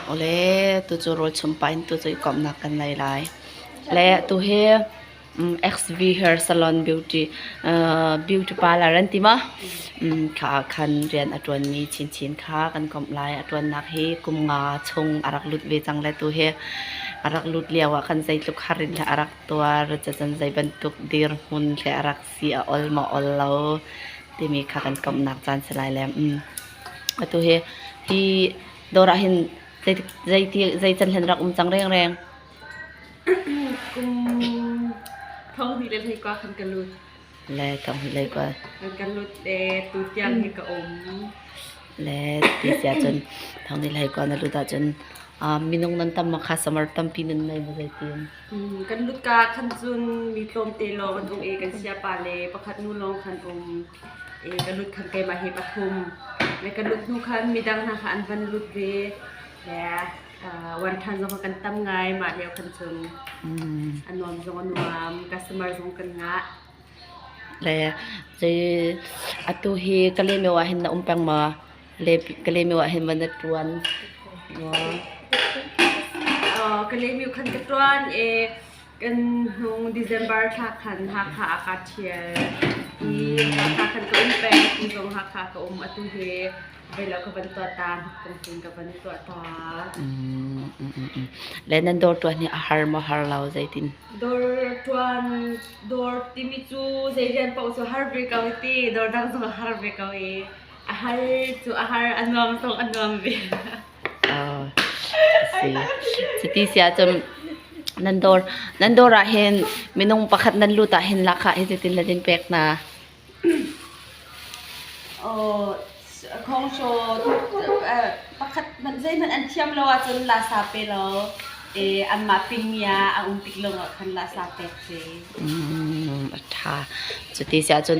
Awle tucu rawlchum pa in tucu i komhnak kan ngei lai. Le tuhi XV Hair Salon Beauty beauty parlour an ti maw? kha ahkhan rian a ṭuanmi chinchin kha kan komh lai. A ṭuannak hi kum nga chung a rak lut ve cang le tuhi a rak lut lio ahkhan zeitluk har in dah a rak tuar, cacun zeibantuk dirhmun hle a rak si, a ol maw ol lo timi kha kan komhnak caan si lai le. Atu hi hi dawr ah hin zei can hlen rak um cang rengreng. Kum thong hnih le hlei kua kan ka lut. Le thong hnih le kua. Kan ka lut le tu tiang hi ka um. Le ti sia cun thong hnih le hlei kua na lut ah cun minung nan tam makha samar tampi nan nei maw zei tin? Kan lut ka khan cun mi tlawm te lawng an um i kan sia pa le pakhat nu lawng kan um. ka lut khan keimah hi a phum. Le kan lut hnu khan midang hna kha an van lut ve. Le wanṭhan zong kha kan tam ngai, mah lio khan cun a nuam zong a nuam, customer zong kan ngah. Le zei atu hi Kaleme ah hin na um peng maw? Le Kaleme ah hin van na ṭuan maw? Kaleme khan ka ṭuan i kan hnung December thla khan Hakha ah kaa ṭhial i Hakha khan ka um peng ti zong Hakha ka um atu hi voi lo ka van tuah ta hnukpung tlin ka van tuah ta mm, mm, mm, mm. le nan dawr tuan hi a har maw har lo zeitin dawr tuan dawr timi cu zeizian pau cu har ve ko ti dawr dang zong a har ve ko i a har cu a har a nuam tong a nuam ve asi. Cuti si ahcun nan dawr, nan dawr ahhin minung pakhat nan lut ahhin lahkhah hi zeitin le zeitin pek hna? Aw, khawngsaw, pakhat hmanh, zeihmanh an thiam lo ahcun lasa pe law anmah pingmi ah a um tik lawngah khan lasa pek si. A ṭha. Cuti si ahcun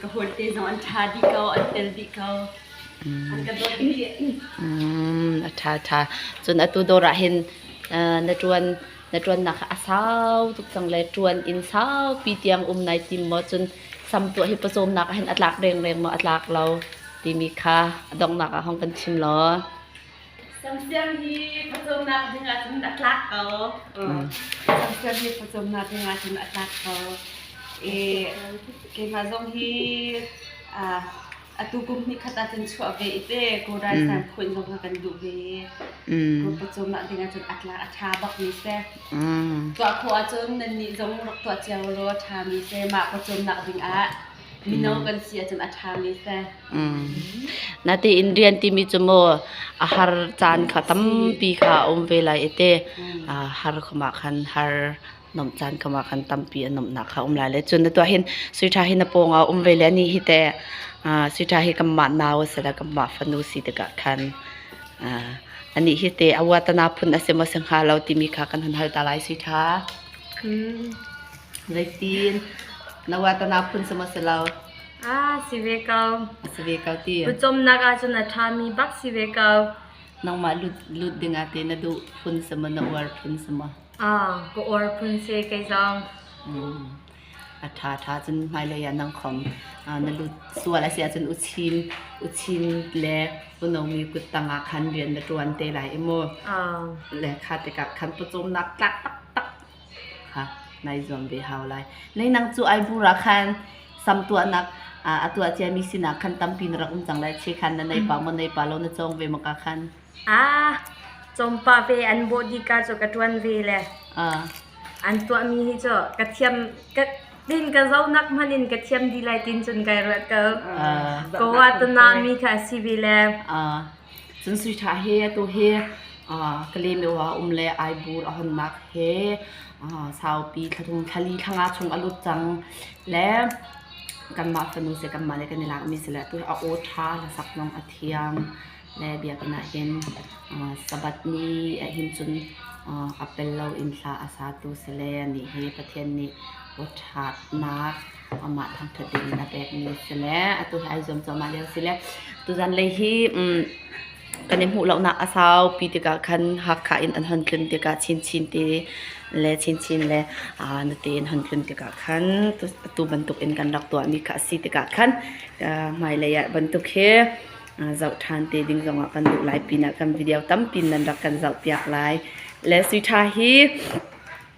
ka hawi te zong an ṭha dih ko, an tel dih ko. An ka dawt dih. Mm, a ṭha ṭha. Cun atu dawr ah hin uh, na ṭuan na ṭuannak a sau tuk cang le ṭuan inn saupi tiang um nai tim maw? Cun samtuah hi pawcawmnak ah hin a tlak rengreng maw? A tlak lo timi kha donghnak ah hong kan chim law. Sersiam hi phucawmnak ding ahcun a tlak ko. Sersiam hi phucawmnak ding ahcun a tlak ko. E, keimah zong hi atu kum hnih khat ahcun chuah ve i te Go Raisan khuin zong kha kan duh ve. Go phucawmnak ding ahcun a tlak a ṭha bak mi te. Tuah khawh ahcun nannih zong rak tuah cio law ṭha mi te mah phucawmnak ding ah mino kan si ahcun a ṭhami seh. Mm. Natein rian timi cu maw a har caan kha tampi kha a um ve lai i te Mm. ah, har khumah khan har nomh caan khumah khan tampi a nomhnak kha a um lai le. Cun na tuah hin sui ṭha hi na pawng ah um ve le ni hi te ah, sui ṭha hi kanmah nau a si le kanmah fanu si tikah khan ah, anih hi te a uatana phun a si maw si hnga lo timi kha kan hun hal ta lai sui ṭha. Mm. Noitin Nawa tanau phun cu maw si lo Ah si ve ko si ve ko ti Lucomnak ahcun a ṭhami bak si ve ko Nangmah lut lut ding ah ti na duh phun si maw na uar phun si maw Ah ka uar phun si kei zong a ṭha ṭha cun hmailei ah nang khom na lut sual a si ahcun uchin uchin le unomi kuttang ah khan rian na ṭuan te lai i mu le kha tikah khan pawcawmnak tlak tak tak kha nai zuam ve hau lai. Lei nang cu ai bur ah khan sam tuahnak a tuah ciami sinah khan tampi na rak um cang lai. Che khan na naipa maw naipa lo na cawng ve maw ka khan? Ah, chawmpa ve an bawh dih ka cu ka ṭuan ve le. An tuahmi hi cu ka thiam ka tin ka zonak hmanh in ka thiam dih lai tin cun kai ruat ko. Ko ah tuna mi kha a si ve le. Cun suiṭha he atu hi Kalymyo ah a um le Aibur a hawnnak he saupi thla li thla nga chung a lut cang. Le kanmah fanu si kanmah le kan i lakmi si le atu a aw ṭha le saknawng a thiang le biakinn ahhin Sabbath ni ahhin cun a pel lo in thla a satu si le nih hi Pathian nih aw ṭhatnak amah thangthat tein a pekmi si le atu hi ai zuam cuahmah lio si le tuzan lei hi um, kan i hmuh lonak a saupi tikah khan Hakha in an hon tlun tikah chinchin te le chinchin le aa na tein hon tlun tikah khan atu bantuk in kan rak tuahmi kha a si tikah khan hmailei ah bantuk hi zoh ṭhan te ding zongah kan duh lai pinah kan video tampi nan rak kan zoh piak lai le sui ṭha hi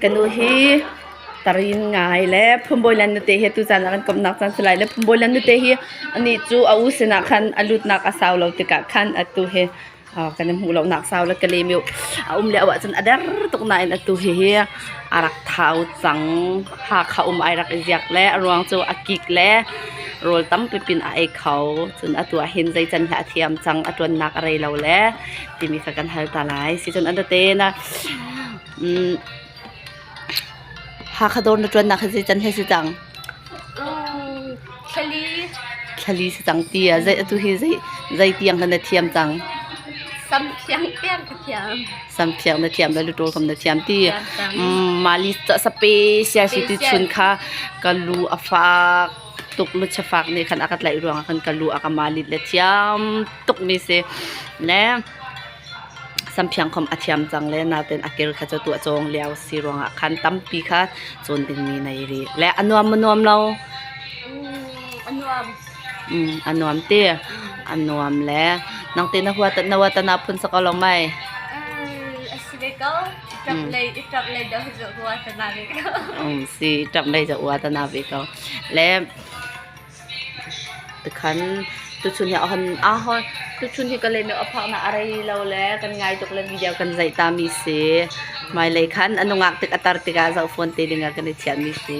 Kanu hi tarin ngai le phumbawilan nute hi tuzan ah kan komhnak caan si lai le phumbawilan nute hi anih cu a u sinah khan a lutnak a sau lo tikah khan atu hi kan i hmuh lonak sau le ka lem i a um le auh ahcun a der tuk nain atu hihi a rak thau cang. Hakha um ai rak i ziak le a ruang cu a kik le rawl tampi pin a ei kho. Cun atu ahhin zeican hlah a thiam cang, a ṭuannak a rei lo le timi kha kan hal ta lai. Sicun a nute na Hakha dawr na ṭuannak hi zeican he si cang? Thlali. Thlali si cang ti a zei atu hi zei zei tiang kan na thiam cang? Samthiang tiang ka thiam. Samthiang na thiam le luṭawl kam na thiam ti. Malis ca special si ti chun kha ka lu a fak tuk nu chafak nih khan a ka tlaih ruang ah khan ka lu a ka malit le thiam tuk mi si. Le Samthiangkhom a thiam cang le natein a kir kha cu tuah cawng lio a si ruangah khan tampi kha cun dingmi nei rih. Le a nuam a nuam lo. A nuam. Mm, a nuam ti. A nuam le nang te na hua ta na hua ta na phun sak along mai. A si ve ko. Ṭap lei i ṭap lei da hua ta na ve ko. Um si, ṭap lei za hua ta na ve ko. Le Tikhan tuchun hi a hon aa hon tuchun hi ka lehmi a phaknak a rei lo le kan ngai tuk le video kan zaih tami si. Hmailei khan a nungak tik a tar tikah zohfon te dingah kan i thiammi si.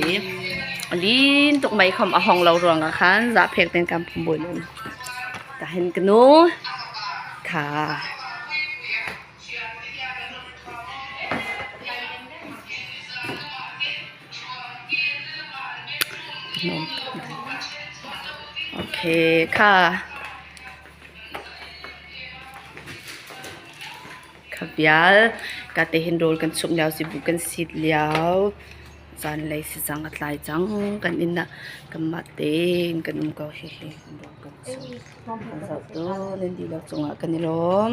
Lin tuk mei khom a hong lo ruangah khan zahphek ten kan pum buin um. Tahin kanu tha. Khabial ka te hin rawl kan suk lio sibu kan sit lio zanlei sizang a tlai cang kan inn ah kanmah tein kan um ko hihi rawl kan suk kan zoh tawn in dilo cungah kan i lawm.